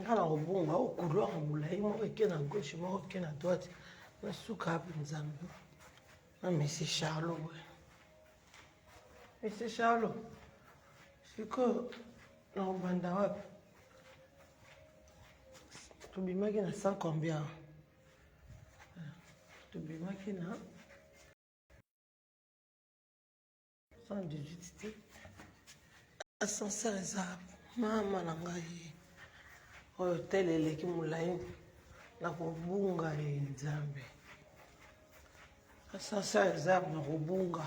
nga na kobonga o couloir molai moko eke na gauche moko eke na droite nasuka ape nzambe na mesi charlo boye mesi charlo sikoyo na kobanda wapi tobimaki na cent combien tobimaki na 118 te ascenseur eza mama na ngai oyo tele eleki molai na kobunga ye nzambe ascenseur eza na kobunga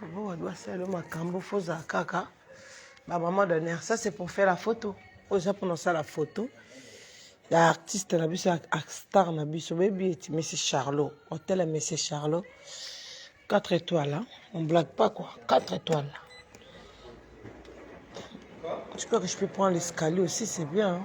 Faut doit faire le makambo faut za kaka ba maman d'honneur ça c'est pour faire la photo oza pour ça la photo ya artiste na biso ak star na biso bebi eti monsieur Charlot hôtel ya monsieur Charlot 4 étoiles hein? on blague pas quoi 4 étoiles je crois que je peux prendre l'escalier aussi c'est bien hein?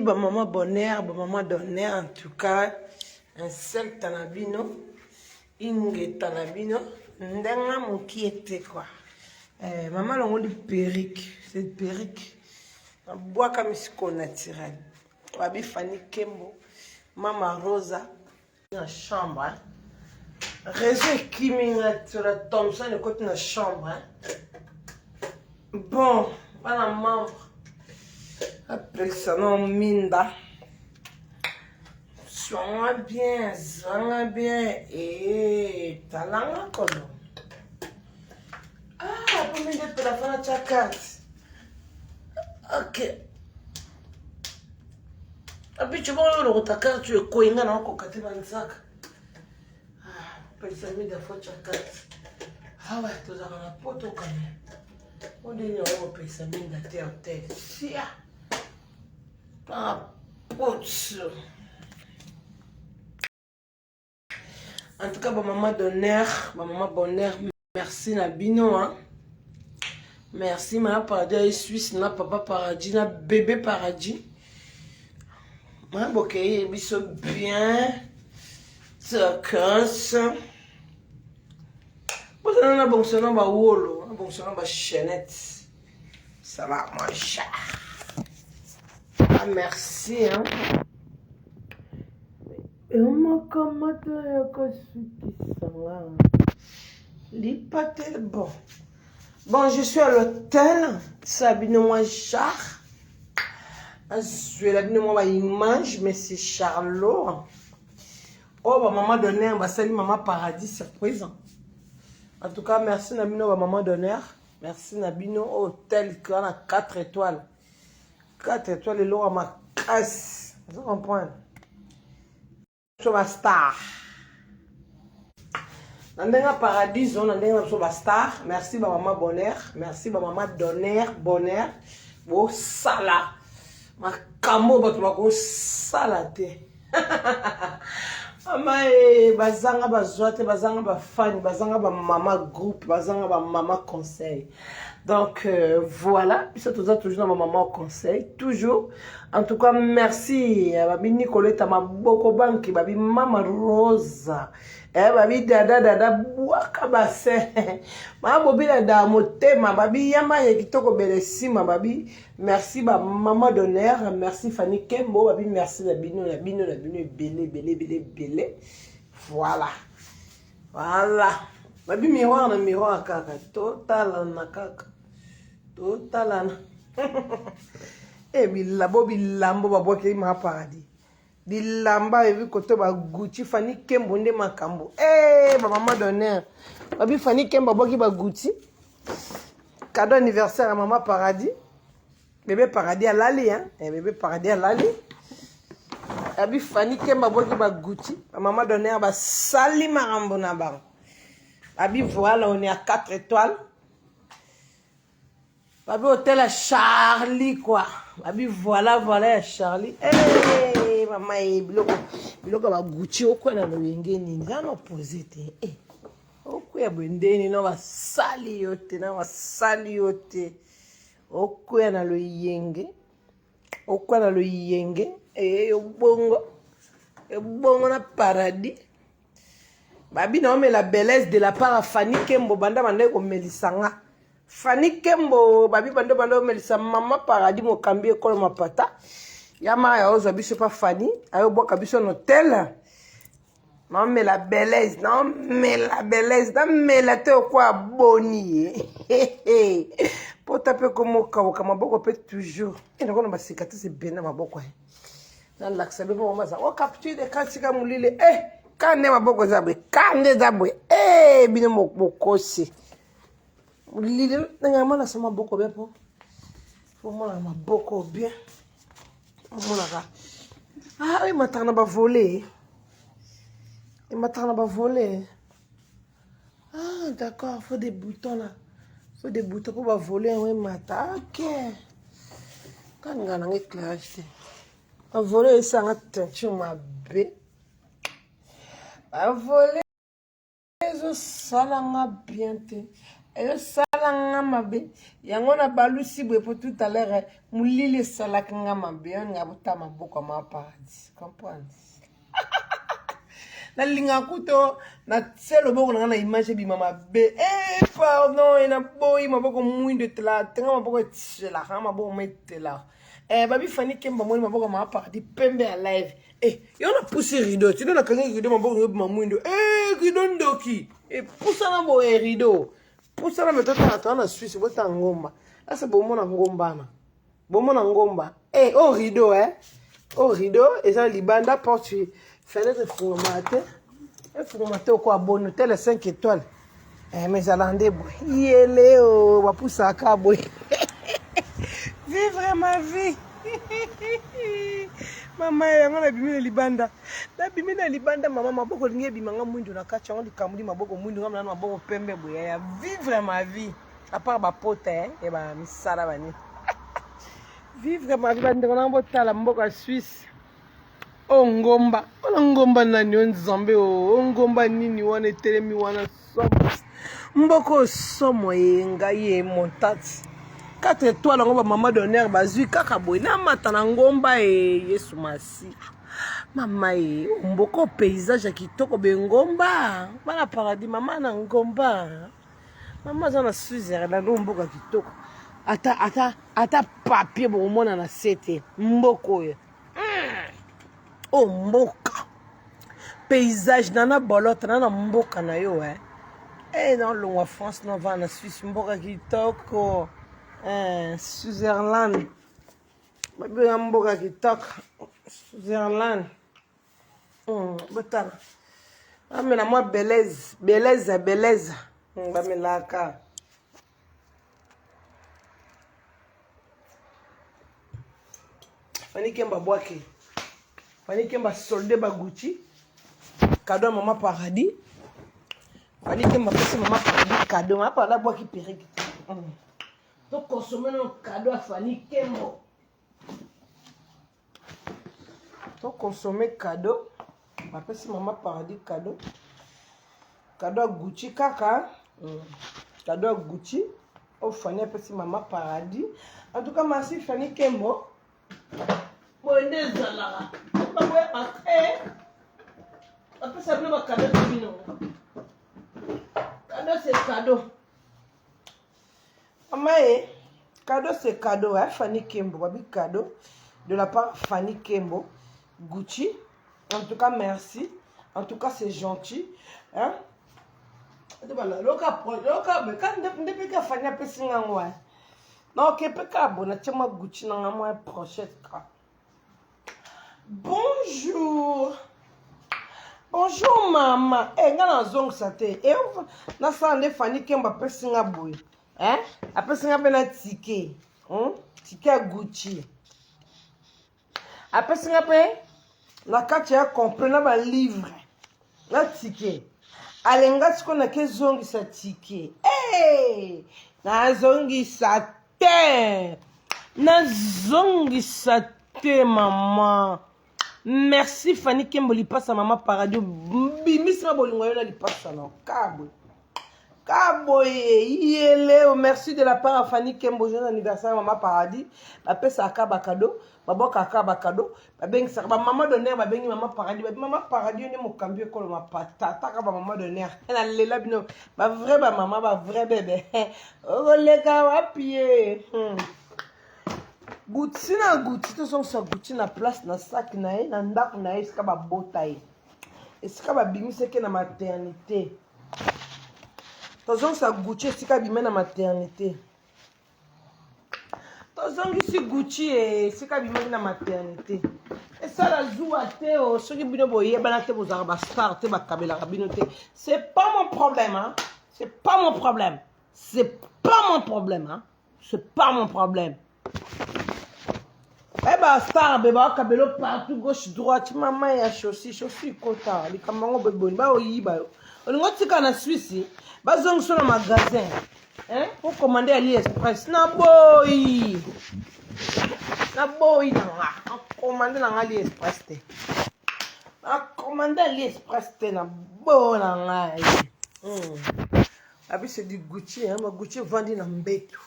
ba maman bonheur ba maman d'honneur en tout cas insecte na bino ingeta na bino ndenge mokie te kua eh, mama alongoli perike cette perike abwaka misiko naturel babi fani kembo mama rosa na chambre réseau ekimi nga tola thomson ekoti na chambre bon bana membre apekisa na minda swanga bien zwanga bien ee talanga kolo ah po minde pela fana tya karte ok abicho moko yo lokota karte oyo ekoyi nga na okoka te banzaka ah, pelsami dafoca karte awa ah tozalaka na poto kame ondenge yango kopelisa minda te hotel sia papoto En tout cas, ba maman d'honneur, ba maman bonheur, merci na bino hein. Merci ma paradis ya Suisse na papa paradis na bébé paradis. Ma bokeye biso bien. Tokos. Bozana na bongso na ba wolo, na bongso na ba chaînette. Ça va mon chat. Ah merci hein. Yo moko moto ya kosukisa nga lipate bon bon je suis à l'hôtel sa bino mwa jar azwela bino mwa baimage mais c'est charlot oyo oh, bamama d'honneur basali mama paradis surprise en tout cas merci na bino bamama d'honneur merci na bino oyo oh, tel que wana 4 étoiles 4 étoiles lelo wa makasi ozo comprendre biso bastar na ndenge ya paradiso na ndenge na biso bastar merci bamama bonheur merci bamama donner bonheur bosala makambo oyo bato bakosala te mama e bazanga bazwa te bazanga bafani bazanga bamama groupe bazanga bamama conseil donc euh, voilà biso toza toujours na bamama conseil toujours en tout cas merci euh, babi nicoleta maboko banki babi mama rosa eh, babi dada dada bwaka basin mama bobila da motema babi yama ye kitoko bele nsima babi merci ba maman d'honneur merci Fanny Kembo babi merci na bino na bino na bino ebele ebele ebele ebele voilà voilà babi miroir na miroir kaka totalana kaka totalana e eh, bilabo bilambo babwakeli ma paradis bilamba ebi koto ba gucci fani kembo nde makambo ee eh, bamama donner babi fani kembo abwaki ba gucci cadeau anniversaire ya mama paradis bebe paradis alali hein? Eh, bebe paradis alali abi fani kembo abwaki ba gucci bamama donner basali makambo na bango abi voile on est à 4 étoiles Babi otela Charlie quoi. Babi voilà voilà ya Charlie. Eh hey, mama ye eh, biloko biloko ba Gucci okwa na loyenge nini za no poser te. Eh. Hey. Okuya boye ndeni no basali yo te na basali yo te. Okuya na loyenge. Okuya na loyenge. Eh hey, obongo. Ebongo na paradis. babi na omela belaise de la part fani kembo banda bandaki komelisa nga fani kembo babi banda bandaki komelisa mama paradis mokambi ekolo mapata ya mara ya ozwa biso pa fani ayobwaka biso na hotel naomela belaise naomela belaise namela te okwa boni ye pota mpe komokauka maboko mpe toujours enakona basika te sebena maboko ye nalakisa bino mama aza o oh, capture de camp sika molili e eh, ka nde maboko eza boye ka nde eza boye e eh, bino mokosi molili ndenge amonasa maboko bia mpo omonaka maboko bien omonaka ah, emataka na bavole emataka na bavole Ah, d'accord, faut des boutons là. Faut des boutons pour ba voler un mata. OK. Quand on a éclairage. On voler ça en teinture ma bé. On voler ezo sala nga bien te. Ezo sala nga mabe. Yango na balusi boye pour tout à l'heure. Mulile salaka nga mabe. On nga botama boko ma paradis. Comprends? nalingaka kuto natie loboko na ngai na image ebima mabe eh, pardon eh, naboyi maboko mwindo etela te nga maboko etyelaka nga maboko ma etelaka eh, babi fani kemba moni maboko ma paradis pembe ya live eh, yo napusi rido tino nakangi rido maboko ngo ebima mwindo eh, rido ndoki epusana eh, boye rido pusana me totala toa na swisse botala ngomba ase bomona ngombana bomona ngomba eh, oyo oh, rideau eh. oyo oh, rideau eza libanda porte fenêtre efungama te efungama te oko aboni hotel 5 étoile eh, mais ezala nde boye yele o oh, bapusaka boye vivre ma vie mama yango nabimi na libanda nabimi na libanda mama maboko olingi ebima nga mwindu na kati yango likambo li maboko mwindu nga mna na maboko pembe boye ya vivre ma vie à part ba pota hein et ba misala ba ni vivre ma vie ba ndeko na botala mboka Suisse o oh, ngomba wana ngomba nani o oh, nzambe o oh, ngomba nini wana etelemi wana somo mboka oyo somo ye ngai ye montati 4 étoile yango bamama d'honneur bazwi kaka boye namata na ngomba e yesu masi mama e mboka paysage ya kitoko bengomba bana paradis mama na ngomba Mama aza na Switzerland oyo mboka kitoko. Ata ata ata papier bokomona na sete mboka oyo. Hmm. Oh mboka. Paysage na na bolote na na mboka na yo eh. Eh na longwa France na va na Suisse mboka kitoko. Eh Switzerland. Babi na mboka kitoko. Switzerland. hmm, botala bamela mwa beleze beleza beleza hmm, bamelaka fani kemba bwake fani kemba solde baguti kado ya mama paradis fani kemba pesi mama paradis kado mama paradis abwaki perike hmm. tokonsome nano kado ya fani kembo to consommer cadeau bapesi mama paradis cadeau cadeau ya gucci kaka mm. cadeau ya gucci oyo fani apesi mama paradis en tout cas masi fani kembo boye nde ezalaka baboya bate bapesa bino bakado te bino kado se kado Mama e, cadeau c'est cadeau, hein, Fanny Kembo, babi cadeau de la part Fanny Kembo, Gucci. En tout cas, merci. En tout cas, c'est gentil, hein. Voilà, loka loka mais quand depuis que Fanny a pesi ngangwa. Non, que peka bona tchema Gucci na ngamo prochette quoi. bonjour bonjour mama e eh, nga nazongisa te e nasala nde fani kembo apesi nga boye e apesi nga mpe na tike hmm? tike ya gucci apesi nga mpe na kati ya complet na balivre na tike alenga sikoyo nakezongisa tike e nazongisa te nazongisa te mama merci fani kembo lipasa mama paradio bimisi ma bolingo yo na lipasa na kabwe kaboye yeleo merci de la part ya fani kembo joyeux anniversaire mama paradis bapesaka bakado babwakaka bakado babengisaka bamama doner babengi mama paradis babi mama paradis yo nde mokambi ekolo mapata ataka bamama doner nalela bino bavrai bamama bavrai bebe okoleka wapi ye hmm. guti na guti tozongisa guti na place na saki na ye na ndako na ye esika babota ye esika babimisaki na maternité tozongisa guti esika abima na maternité tozongisi gucci e esika bimaki na maternité esala zuwa te o oh, soki bino boyebana te bozalaka bastar te bakabelaka bino te c'est pas mon problème hein? c'est pas mon problème c'est pas mon problème hein? c'est pas mon problème Eh ba star be ba kabelo partout gauche droite mama ya chaussure chaussure kota likambo yango beboni ba oyiba yo olingo tika na Suisse bazongiso na magasin hein pour commander Ali Express na boyi na boyi na nga na commander na nga Ali Express te na commander Ali Express te na bo na ngai hmm. abi c'est du Gucci hein ma Gucci vandi na mbetu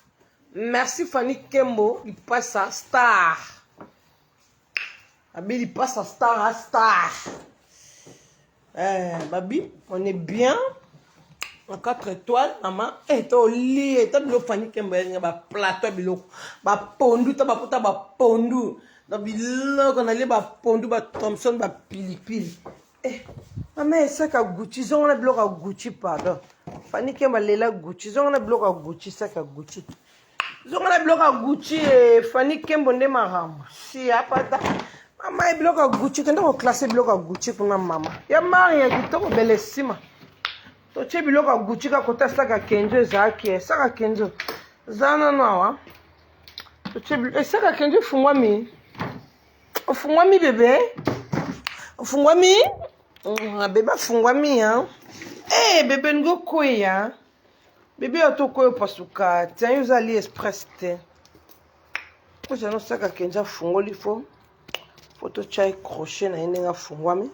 Merci Fanny Kembo lipasa star. Babi lipasa star a star. Eh, babi, on est bien. En 4 étoiles, maman. Eh, to li, eh, ta bilo Fanny Kembo ya ba plateau bilo. Ba pondu, ta ba kota ba pondu. Na biloko na le ba pondu, ba Thompson, ba pilipili. Eh, mama esaka gucci zonga na biloko ya gucci pardon fani kemba lela gucci zonga na biloko ya gucci saka gucci zonga na biloko ya gucci eh, fani kembo nde makambo si apata mama ye biloko ya gucci kende koklase biloko ya gucci kuna mama ya mari ya kitoko bele nsima totye biloko ya gucci kakota saka kenzo ezalaki eh, saka kenzo zana nano awa totye esaka kenzo efungwami Ofungwami bebe? Ofungwami? Mm, bebe afungwami hein? Eh hey, bebe ngo kweya. Bebe yo to kweya pasuka. Tiens, yo zali express te. Ko jano saka kenja fungoli fo. Foto chai crochet na yende nga fungwami.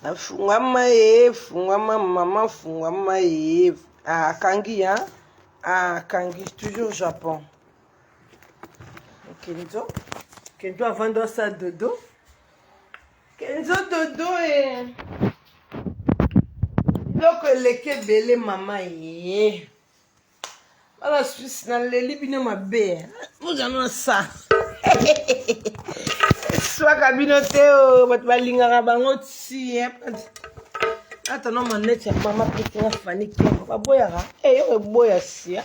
afungwama ye fungwama mama fungwama ye akangi ah, ya ah, akangi toujours japon Kenzo. Kenzo avant de sa dodo. Kenzo dodo et. biloko eleki ebele mama ye bana swisse naleli bino mabe mozano na sa eswaka bino te o bato balingaka bango ti ata no maneti ya mama petinga fani kembo baboyaka eyo eh, eboya sia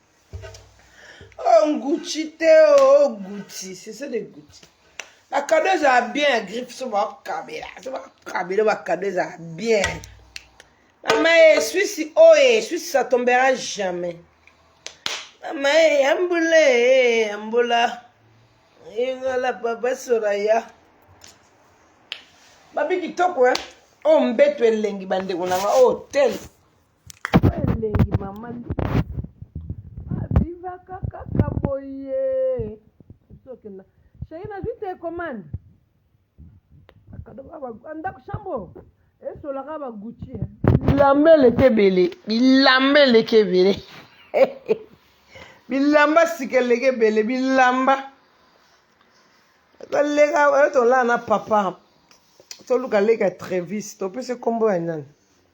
oh ngucci te oh gucci c'est ça de gucci bakado ezala bien ya griffe so bakabela so bakabela bakado ezala bien mama ye eh, swisi oye oh, eh, swisi ça tombera jamais mama ye eh, yambula ye yambula ingala papa soraya babi kitoko e oyo mbeto elengi bandeko na nga oyo oh, tele Elengi mama abivaka kaka boye sokenda sheri nazwi telekomande ndako chambo esolaka baguti eh. bilamba eleki ebele bilamba eleki ebele bilamba sika eleki ebele bilamba toleka tolaa na papa toluka leka trevis topesi nkombo ya nani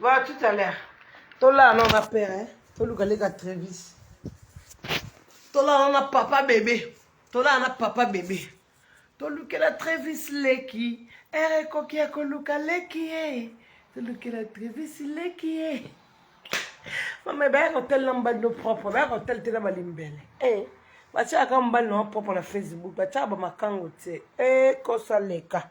Voilà, tout à l'heure. Tola, non, ma père, hein. Toluka leka Travis. Tola, non, papa bébé. Tola, non, papa bébé. Tolukela Travis leki. Ere eh, koki ya koluka leki, eh. Tolukela Travis leki, eh. Mama, baya kotel na mbali no propre. Baya kotel te na balimbele. Eh. Batiaka mbali no propre na Facebook. Batiaka ba makango te. Eh, kosa leka.